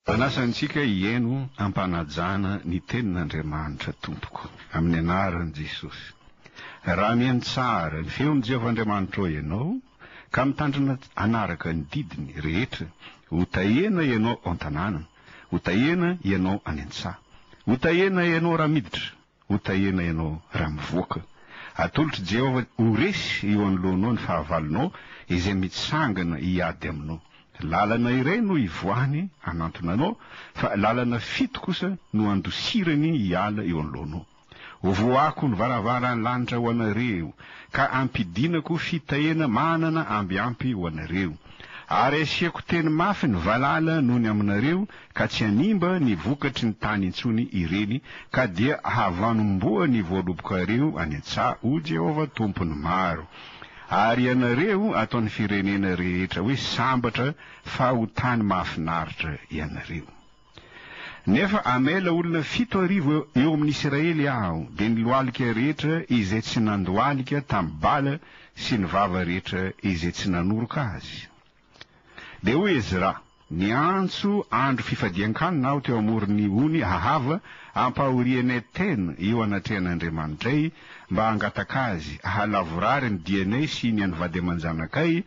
Manasa antsika hihaino am-panajana ny Tenin'Andriamanitra tompoko, amin'ny anaran'i Jesosy. Raha mihaino tsara ny feon'i Jehovah Andriamanitrao ianao, ka mitandrina hanaraka ny didiny rehetra, hotahena ianao ao an-tanàna, hotahena ianao any an-tsaha, hotahena ianao raha miditra, Hotahena ianao raha mivoaka. Atolotr'i Jehovah ho resy eo anoloanao ny fahavalonao, izay mitsangana hiady aminao. Lalana iray no ivoahany hanantona anao, fa lalana fito kosa no andosirany hiala eo anoloanao. Hovoahako ny varavaran'ny lanitra ho anareo, ka hampidinako fitahena manana ambiampy ho anareo. Ary hasiako teny mafy ny valala nony aminareo, ka tsy hanimba ny vokatry ny tany intsony ireny, ka dia havanom-boa ny voalobokareo any an-tsaha, hoy Jehovah Tompon'ny maro. Ary ianareo ataon'ny firenena rehetra hoe sambatra fa ho tany mahafinaritra ianareo. Nefa hamela olona fito arivo eo amin'ny Isiraely Aho, dia ny lohalika rehetra izay tsy nandohalika tamin'i Bala sy ny vava rehetra izay tsy nanoroka azy. Dia hoy Ezra, Niantso andro fifadian-kanina aho teo amoron' ny ony Ahava ampahorian' Etena eo anatrehan' Andriamanitray, mba hangataka azy hahalavorary ny dianay sy ny an' vady aman-janakay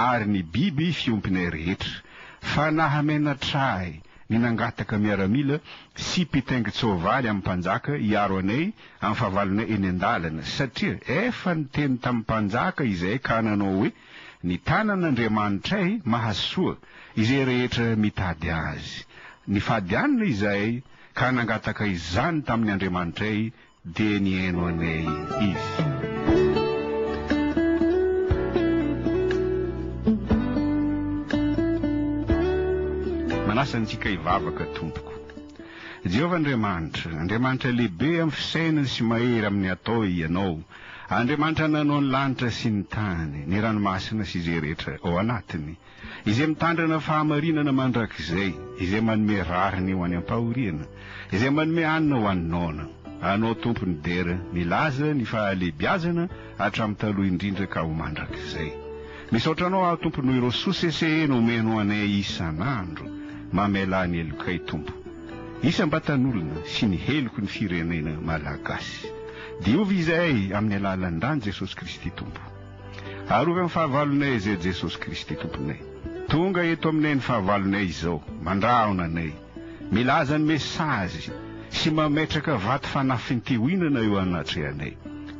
ary ny biby fiompinay rehetra. Fa nahamenatra ahy ny nangataka miaramila sy mpitaingin-tsoavaly amin' ny mpanjaka hiaro anay amin' ny fahavalonay eny an-dalana, satria efa niteny tamin' ny mpanjaka izahay ka nanao hoe, Ny tanan'Andriamanitray mahasoa izay rehetra mitady Azy. Nifady anna izahay ka nangataka izany tamin'ny Andriamanitray dia nihaino anay Izy. Manasa antsika hivavaka tompoko. Jehovah Andriamanitra, Andriamanitra lehibe amin'ny fisainana sy mahery amin'ny atao Ianao. Andriamanitra nanao ny lanitra sy ny tany, ny ranomasina sy izay rehetra ao anatiny, izay mitandrina fahamarinana mandrakizay, izay manome rariny ho any am-pahoriana, izay manome hanina ho any noana. Anao Tompo ny dera, milaza ny fahalehibiazana hatramin'ny taloha indrindra ka ho mandrakizay. Misaotra Anao aho Tompo noho ireo soa sesehena omenao anay isan'andro. Mamelà ny helokay Tompo. Isam-batan'olona sy ny heloko ny firenena Malagasy. Diovy izay amin'ny alalan'ny ràn'i Jesosy Kristy Tompo. Arovy amin'ny fahavalonay izay Jesosy Kristy Tomponay. Tonga eto aminay ny fahavalonay izao, mandrahona anay, milaza ny mesazy sy mametraka vato fanafintihoinana eo anatrehanay.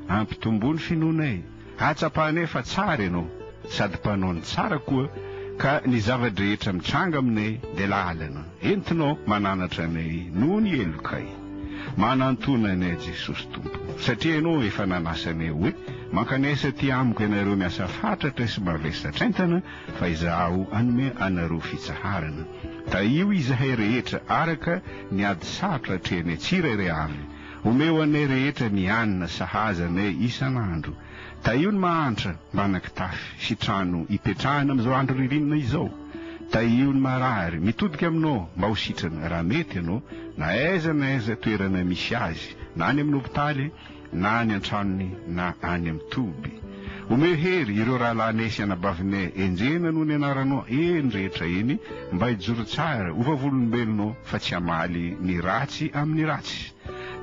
Ampitomboa ny finoanay. Ahatsapanay fa tsara ianao sady mpanao ny tsara koa ka ny zava-drehetra mitranga aminay dia lalana entinao mananatra anay noho ny helokay. Manantona anay Jesosy Tompo satria ianao efa nanasa anay hoe, Mankanesa aty amiko ianareo miasa fatratra sy mavesa-traintana fa izaho hanome anareo fitsaharana. Tahio izahay rehetra araka ny ady sarotra atrehanay tsirairay avy. Omeo anay rehetra ny hanina sahaza anay isan'andro. Tahio ny mahantra mba hanakitafy sy trano hipetrahana amin'izao andro ririnina izao. Tahio ny marary mitodika aminao mba ho sitrana raha mety ianao, na aiza na aiza toerana misy azy, na any amin'ny hopitaly, na any an-tranony, na any amin'ny toby. Omeo hery ireo rahalahinay sy anabavinay enjehina noho ny anaranao eny rehetra eny, mba hijoro tsara ho vavolombelonao fa tsy hamaly ny ratsy amin'ny ratsy.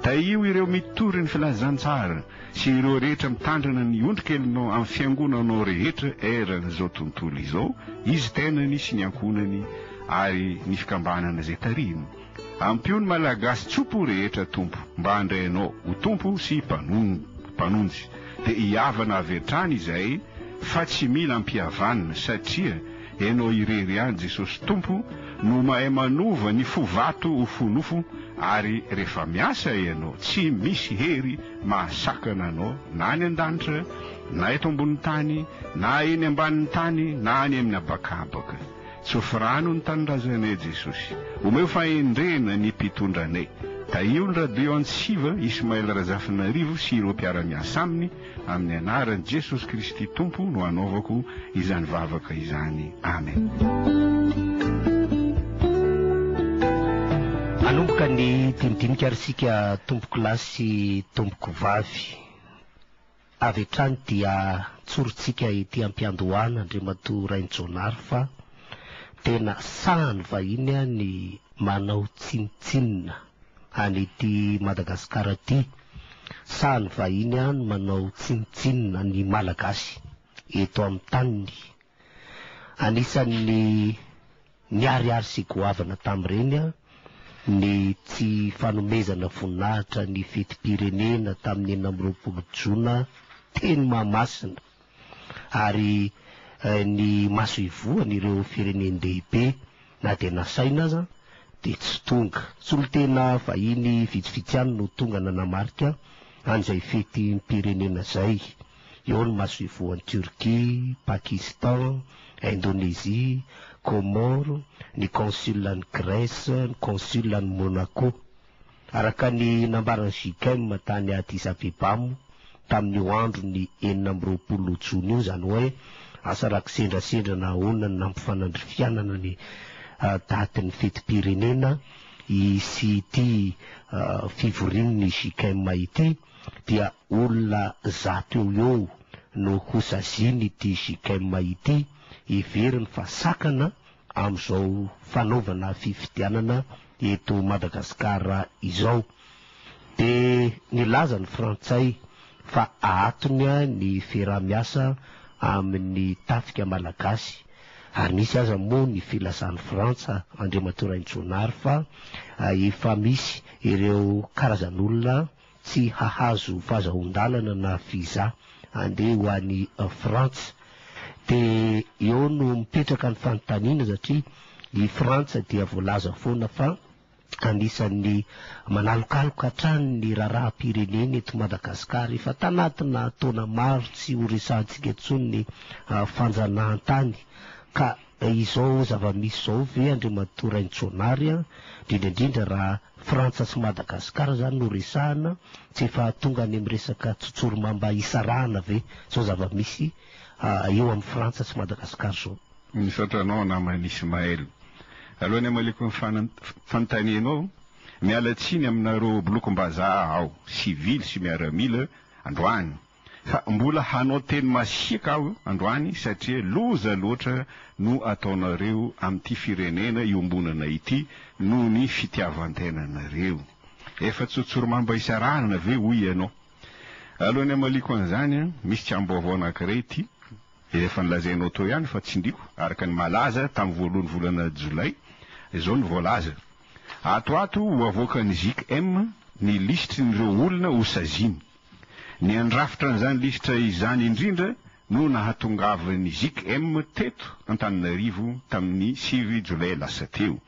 Tahio ireo mitory ny filazantsara sy ireo rehetra mitandrina ny ondrikelinao amin'ny fiangonanao rehetra eran'izao tontolo izao, izy tenany sy ny ankohonany ary ny fikambanana izay tarihiny. Ampio ny Malagasy tsopo rehetra Tompo mba handray Anao ho Tompo sy Mpanonjy dia hihavana avy hatrany izahay fa tsy mila ampihavanina satria Ianao irery ihany Jesosy Tompo no mahay manova ny fo vato ho fo nofo ary rehefa miasa Ianao tsy misy hery mahasakana Anao na any an-danitra na eto ambonin'ny tany na eny ambanin'ny tany na any amin'ny habakabaka. Tsofy rano ny tanindrazanay Jesosy. Omeo fahendrena ny mpitondra anay. Tahio ny radio antsiva Ismaël Razafinarivo sy ireo mpiara-miasa aminy amin'ny anaran'i Jesosy Kristy Tompo no anaovako izany vavaka izany. Amen. Hanomboka ny dinidinika ary isika tompokolahy sy tompokovavy. Avy hatrany dia tsorintsika ety am-piandohana Andriamatoa Rainijaonary fa tena sahan'ny vahiny ny manao tsinontsinona any ety Madagasikara ety. Sahan'ny vahiny ny manao tsinontsinona ny Malagasy eto amin'ny taniny. Anisan'ny Niharihary sy goavana tamin'ireny ny tsy fanomezana voninahitra ny fetim-pirenena tamin'ny enina amby roapolo jona teny Mahamasina ary ny masoivohon'ireo firenen-dehibe na dia nasaina aza dia tsy tonga. Solontena vahiny vitsivitsy ihany no tonga nanamarika an'izay fetim-pirenena izay. Eo ny masoivohon'i Turquie, Pakistan, Indonesie, Comores, ny consul an'i Grèce, ny consul an'i Monaco. Araka ny nambaran'ny JICM tany Addis Abeba moa tamin'io andron'ny enina amby roapolo jona io izany hoe asa raha kisendrasendra na ahoana ny nampifanandrifianana ny datin'ny fetim-pirenena sy ity fivorian'ny JICM ity. dia olona zato eo ho eo no hosazian'ity Gchem ity, heveriny fa sakana amin'izao fanaovana fifidianana eto Madagasikara izao. Dia nilaza ny frantsay fa ahatony ny fiaraha-miasa amin'ny tafika malagasy, ary nisy aza moa ny filazan'i Frantsa, Andriamatoa Raintsonary, fa efa misy ireo karazan'olona tsy hahazo fazahoan-dalana na visa handeha ho any Frantsa. Dia eo no mipetraka ny fanontaniana satria i Frantsa dia voalaza foana fa anisan'ny manalokaloka hatrany ny raharaham-pireneny eto Madagasikara. Efa tanatina taona maro tsy ho resahantsika intsony ny fanjanahantany ka Dia izao zava-misy izao ve Andriamatoa Raintsonary an, indrindra indrindra raha Frantsa sy Madagascar izany no resahana, tsy efa tonga any amin'ny resaka tsotsorimamba hisarahana ve izao zava-misy eo amin'i Frantsa sy Madagascar izao? Misaotra anao namana Ismaël. Alohan'ny hamaliako ny fanontanianao, miala tsiny aminareo bolokom-bazaha aho, sivily sy miaramila, androany. Fa mbola hanao teny masiaka aho androany satria loza loatra no ataonareo amin'ity firenena iombonana ity noho ny fitiavan-tenanareo. Efa tsotsorimamba isarahana ve hoy ianao? Alohan'ny hamaliako an'izany, misy tsaim-baovao anankiray ity, izay efa nolazainao teo ihany fa tsindriako, araka ny malaza tamin'ny voalohan'ny volana jolay, izao no voalaza, Ato ho ato ho avoakan'ny GICM ny lisitrin'ireo olona hosaziany. Ny handrafitra an'izany lisitra izany indrindra no nahatongavan'ny Zikm teto Antananarivo tamin'ny sivy Jolay lasa teo.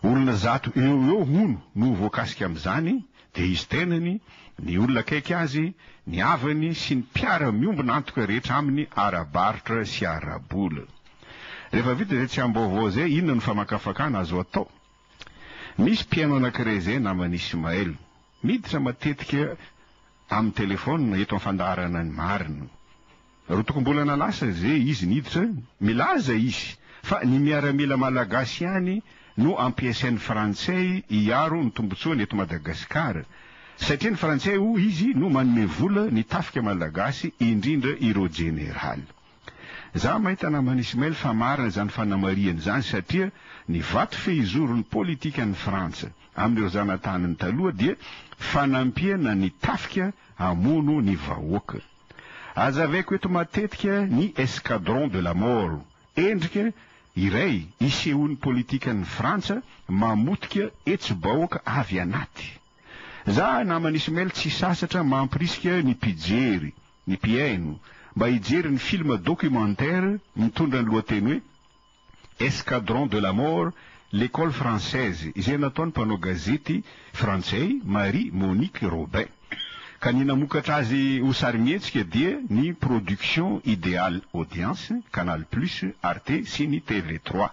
Olona zato eo ho eo hono no voakasika amin'izany dia izy tenany, ny olona akaiky azy, ny havany sy ny mpiara miombona antoka rehetra aminy ara-barotra sy ara-bola. Rehefa vita izay tsiambaovao izay, inona no famakafakana azo atao? Misy mpihaino anankiray izay naman'i Ismaël. Miditra matetika amin'ny telefaonina eto amin'ny fandaharana ny marina. Rotokom-bolana lasa izay izy niditra, milaza izy fa ny miaramila malagasy ihany no ampiasain'ny frantsay hiaro ny tombontsoany eto Madagasikara, satria ny frantsay hoy izy no manome vola ny tafika malagasy indrindra ireo jeneraly. Za maita naman'i Ismail fa marina izany fanamarihany izany satria ny vato fehizoron'ny politikan'ny Frantsa amin'ireo zanataniny taloha dia fanampiana ny tafika hamono ny vahoaka. Azavaiko eto matetika ny escadron de la mort, endrika iray isehoan'ny politikan'ny Frantsa mamotika hetsi-bahoaka avy anaty. Za naman'i Ismail tsy sasatra mampirisika ny mpijery ny mpihaino mba hijery ny filma documentaire mitondra ny lohateny hoe Escadron de la mort, L'Ecole française izay nataon'ny mpanao gazety frantsay Marie Monique Robin. Ka ny namokatra azy ho sarimihetsika dia ny Production Ideal Audience, Canal Plus, Arte sy ny TV Trois.